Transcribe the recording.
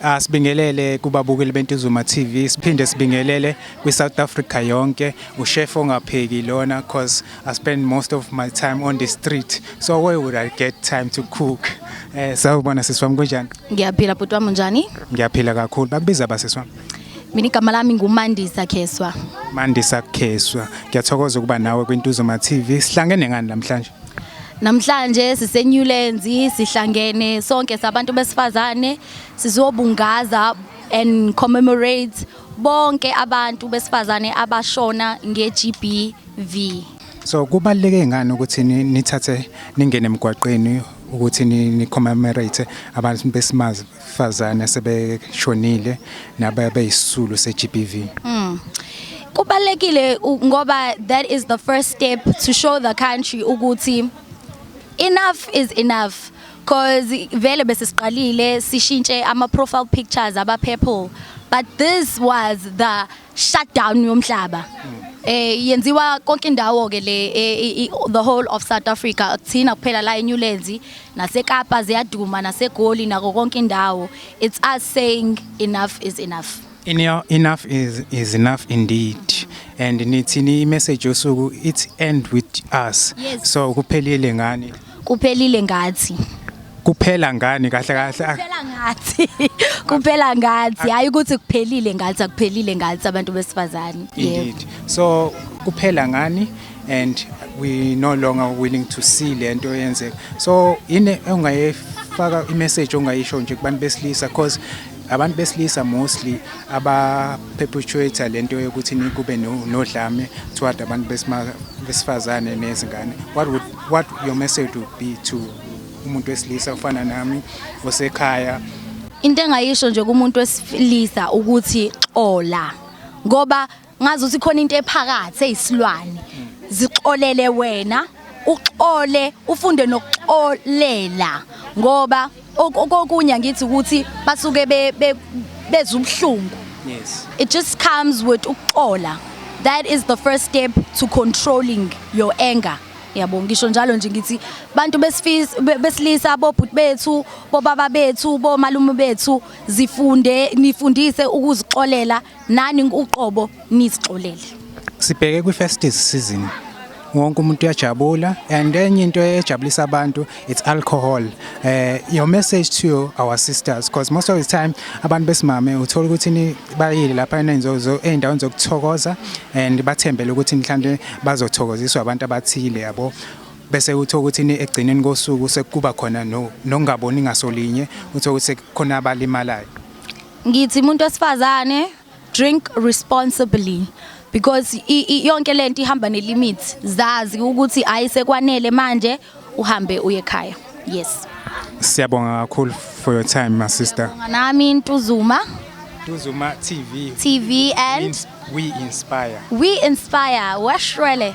Ah, sibingelele kubabukeli bentuzuma TV siphinde sibingelele kwi-South Africa yonke ushef ongapheki lona cause I spend most of my time on the street so where would I get time to cook eh sawubona sisi wami kunjani ngiyaphila bhuti wami unjani ngiyaphila kakhulu bakubiza basisi wami mina igama lami ngumandisa kheswa Mandisa Kheswa ngiyathokoza ukuba nawe kwintuzuma TV sihlangene ngani namhlanje Namhlanje siseNewlands sihlangene sonke sabantu besifazane sizobungaza and commemorate bonke abantu besifazane abashona ngeGBV. So kubaluleke ngani ukuthi nithathe ningene emgwaqeni ukuthi ni commemorate abantu besimazi fazane asebeshonile nababeyisisulu se-GBV mm. kubalekile ngoba that is the first step to show the country ukuthi enough is enough cause vele bese siqalile sishintshe ama profile pictures aba purple but this was the shutdown yomhlaba eh yenziwa konke indawo ke le eh, i- the whole of South Africa akuthina kuphela la eNewlands naseKapa ziyaduma naseGoli nako konke indawo it's us saying enough is enough Enough, enough is, is enough indeed and nithini imessage yosuku it's end with us Yes. so kuphelile ngani Kuphelile ngathi. Kuphela ngani kahle kahle. ah, Kuphela ngathi. Kuphela ngathi. Hayi ukuthi kuphelile ngathi akuphelile ngathi abantu besifazane. Yebo. Indeed. So kuphela ngani and we no longer willing to see lento yenzeka. So yini ongayifaka imessage ongayisho nje kubantu besilisa because abantu besilisa mostly aba perpetuate lento yokuthi nikube no- nodlame toward abantu besima- besifazane nezingane. What would What your message would be to umuntu wesilisa ofana nami osekhaya? Into engayisho nje kumuntu wesilisa ukuthi xola ngoba ngazi ukuthi khona into ephakathi eyisilwane zixolele wena uxole ufunde nokuxolela ngoba okunye angithi ukuthi basuke bezwa ubuhlungu yes it just comes with ukuxola that is the first step to controlling your anger yabo ngisho njalo nje ngithi bantu besifisa besilisa bobhuti bethu bobaba bethu bomalume bethu zifunde nifundise ukuzixolela nani uqobo nizixolele sibheke kwi festive season wonke umuntu uyajabula and enye into ejabulisa abantu it's alcohol eh your message to our sisters because most of the time abantu besimame uthola ukuthi ni bayile lapha enenzozo eindaweni zokuthokoza and bathembele ukuthi mhlawumbe bazothokoziswa abantu abathile yabo bese uthola ukuthi ni egcineni kosuku sekuba khona nongaboni ngasolinye uthola ukuthi khona abalimalayo Ngithi umuntu wesifazane drink responsibly because yonke lento ihamba ne limits zazi ukuthi hayi sekwanele manje uhambe uye ekhaya yes siyabonga kakhulu for your time my sister nami ntuzuma Duzuma TV. TV and we inspire. We inspire. Washwele.